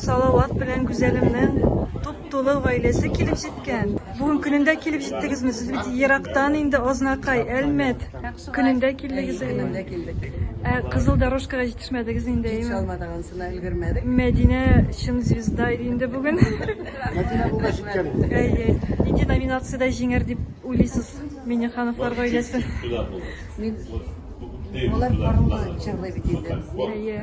Салават белән Гүзәлемнең туп-тулы гаиләсе килеп җиткән. Бүген көнендә килеп җиттегезме? Сез бит ерактан инде, Азнакай, Әлмәт көнендә килдегез. Әйе, көнендә килдек. Ә Кызыл Дорожкага җитешмәдегез инде, әйеме? Җитешә алмадык, анысына өлгермәдек. Мәдинә чын звезда иде инде бүген. Мәдинә бүген җиткән инде. Әйе. Нинди номинациядә җиңәр дип уйлыйсыз Миңнехановлар гаиләсе? Мин, алар барыннан җырлый бит инде. Әйе.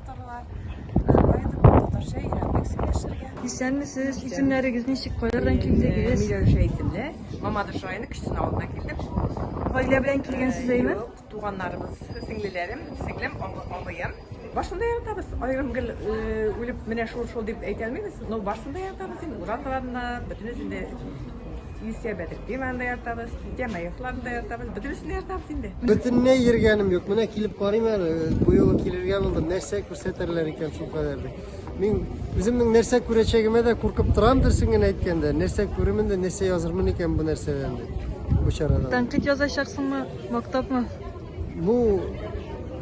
тоттыралар. Татарча өйрәндек сөйләшергә. Исәнмесез, исемнәрегез ничек, кайлардан килдегез? Миләүшә исемле, Мамадыш районы Кечтен авылыннан килдек. Гаилә белән килгәнсез әйме? Юк, туганнарыбыз, сеңлеләрем, сеңлем, абыем. Барсында яратабыз. Аерым гел үлеп менә шул шул дип әйтә алмыйбыз, но барсында яратабыз инде. Ураталарына, бөтенесен дә Юсия Бәдер диван да ятабыз, Тема йортларын да ятабыз, бөтенесен ятабыз инде. Бөтенләй йөргәнем юк. Менә килеп карыйм әле, бу юлы килергә булдым. Нәрсә күрсәтерләр икән шул кадәр дип. Мин үземнең нәрсә күрәчәгемә дә куркып торам дөресен генә әйткәндә. Нәрсә күремен дә, нәрсә язырмын икән бу нәрсәдән дип. Бу чарадан. Тәнкыйть язачаксыңмы, мактапмы? Бу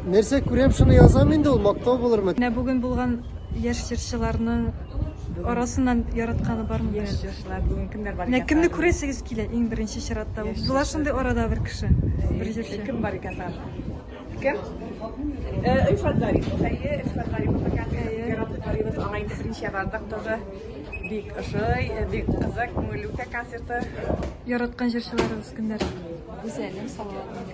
нәрсә күрәм, шуны язам инде, ул мактау булырмы? Менә бүген булган яшь җырчыларның арасыннан яратканы бармы? Яшь җырчылар бүген кемнәр бар? Менә кемне күрәсегез килә иң беренче чиратта? Була шундый арада бер кеше, бер җырчы. Кем бар икән тагын? Кем? Э, Ильфат Зарипов. Әйе, Ильфат Зарипов икән. Яратып карыйбыз. Аңа инде беренче бардык тоже. Бик ошый, э, бик кызык, күңелле үтә концерты. Яраткан җырчыларыгыз кемнәр? Гүзәлем, Салават.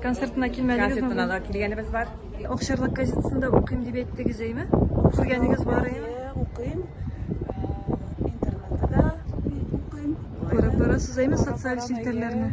Концертына килмәдегез ме? Концертына да килгәнебез бар. Акчарлак газетасында укыйм дип әйттегез, әйме? Күргәнегез бар әйме? Укыйм. Интернетта да укыйм. Күреп барасыз әйме социаль челтәрләрне?